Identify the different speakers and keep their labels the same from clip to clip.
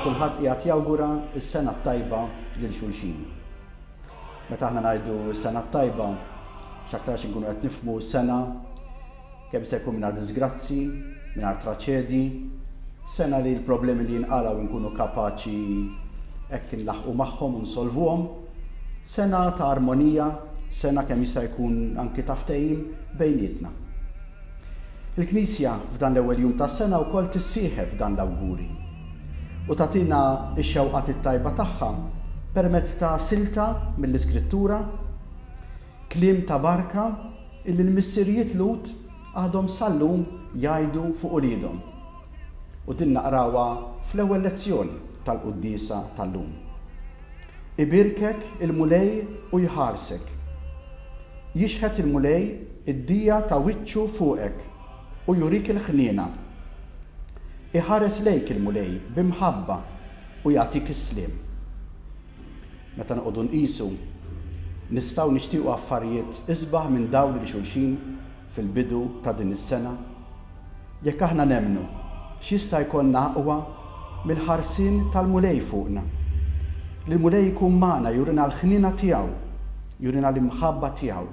Speaker 1: kulħadd qiegħed jawgura s-sena t-tajba lil xulxin. Meta aħna ngħidu s-sena t-tajba, x'aktarx inkunu qed nifhmu s-sena Kemm se jkun mingħajr diżgrazzji, mingħajr traċedji, sena li l-problemi li jinqalgħu inkunu kapaċi hekk inlaħħqu magħhom u nsolvuhom, sena ta' armonija, sena kemm jista' jkun anki ta' ftehim bejnietna. Il-Knisja f'dan l-ewwel jum tas-sena wkoll tissieħeb f'dan l-awguri u tagħtina x-xewqat it-tajba tagħha permezz ta' silta mill-Iskrittura Kliem ta' barka illi l-missirijiet Lhud għadhom sal-lum jgħidu fuq uliedhom. U din naqrawha fl-ewwel lezzjoni tal-quddiesa tal-lum. Ibierkek il-Mulej u jħarsek. Jixħet il-Mulej id-dija ta' wiċċu fuqek u jurik il-ħniena. Iħares lejk il-Mulej bi mħabba u jagħtik is-sliem. Meta noqogħdu nqisu, nistgħu nixtiequ affarijiet isbaħ minn dawn li xulxin fil-bidu ta' din is-sena? Jekk aħna nemmnu, x'jista' jkollna aqwa mill-ħarsien tal-Mulej fuqna? Li l-Mulej ikun magħna jurina l-ħniena tiegħu, jurina l-imħabba tiegħu,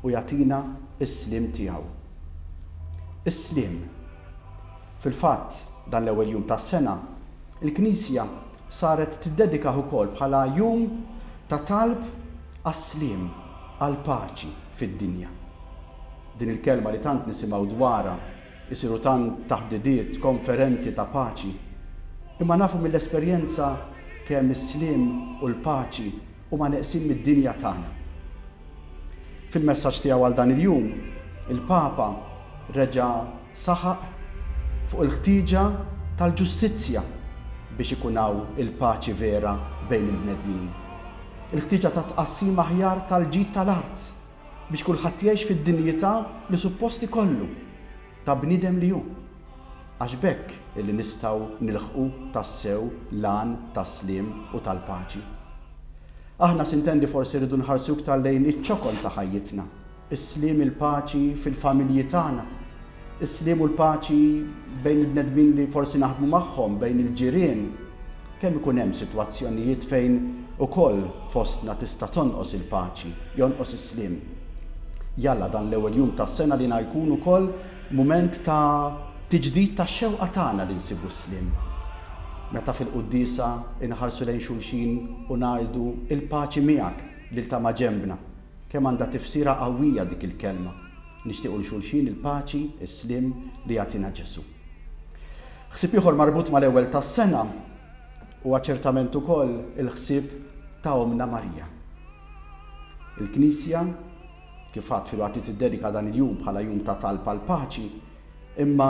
Speaker 1: u jagħtina s-sliem tiegħu. Is-sliem. Fil-fatt, dan l-ewwel jum tas-sena, il-Knisja Saret tiddedikah ukoll bħala jum ta' talb għas-sliem, għall-paċi fid-dinja. Din il-kelma li tant nisimgħu dwarha, isiru tant taħdidiet, konferenzi ta' paċi, imma nafu mill-esperjenza kemm is-sliem u l-paċi huma neqsin mid-dinja tagħna. Fil-messaġġ tiegħu għal dan il-jum, il-Papa reġa' Saħaq fuq il-ħtieġa tal-ġustizzja biex ikun hawn il-paċi vera bejn il-bnedmin, il-ħtieġa ta' tqassim aħjar tal-ġid tal-art biex kulħadd jgħix fid-dinjità li suppost ikollu ta' bniedem li hu, għax b'hekk li nistgħu nilħqu tassew l-għan tas-sliem u tal-paċi. Aħna, sintendi, forsi rridu nħarsu iktar lejn iċ-ċokon ta' ħajjitna, Is-sliem, il-paċi fil-familji tagħna. Is-sliem u l-paċi bejn il-bnedmin li forsi naħdmu magħhom, bejn il-ġirien. Kemm ikun hemm sitwazzjonijiet fejn ukoll fostna tista' tonqos il-paċi, jonqos is-sliem. Jalla dan l-ewwel jum tas-sena li na jkun ukoll mument ta' tiġdid tax-xewqa tagħna li nsibu s-sliem. Meta fil-quddiesa inħarsu lejn xulxin u ngħidu, Il-paċi miegħek, lil ta' maġenbna. Kemm għandha tifsira qawwija dik il-kelma, nixtiequ 'l xulxin il-paċi, is-sliem li jagħtina Ġesù. Ħsieb ieħor marbut mal-Ewwel tas-Sena huwa ċertament ukoll il-ħsieb ta' Ommna Marija. Il-Knisja, kif għadt filwaqt li tiddedika dan il-jum bħala jum ta' talb għall-paċi, Imma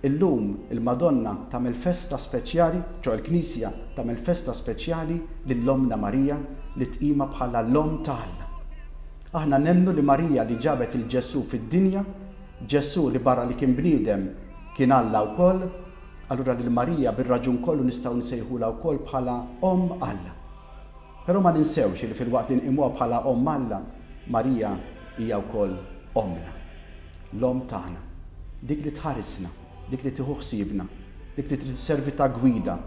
Speaker 1: illum il-Madonna tagħmel festa speċjali, ċoe l-Knisja tagħmel festa speċjali lil Ommna Marija li tqimha bħala l-Omm ta' Alla. Aħna nemmnu li Marija li ġabet lil Ġesù fid-dinja, Ġesù li barra li kien bniedem kien Alla wkoll, allura lil Marija bir-raġun kollu nistgħu nsejħulha wkoll bħala Omm Alla. Però ma ninsewx li filwaqt li nqimuha bħala Omm Alla, Marija hija wkoll Ommna. L-Omm tagħna, dik li tħarisna, dik li tieħu ħsiebna, dik li trid isservi ta' gwida,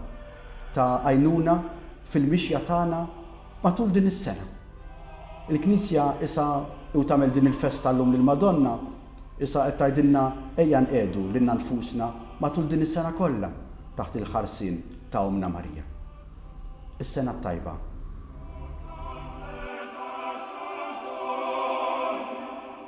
Speaker 1: ta' għajnuna fil-mixja tagħna matul din is-sena. Il-Knisja isha, u tagħmel din il-festa llum lill-Madonna, isha qed tgħidilna ejja nqiegħdu lilna nfusna matul din is-sena kollha taħt il-ħarsien ta' Ommna Marija. Is-Sena t-Tajba.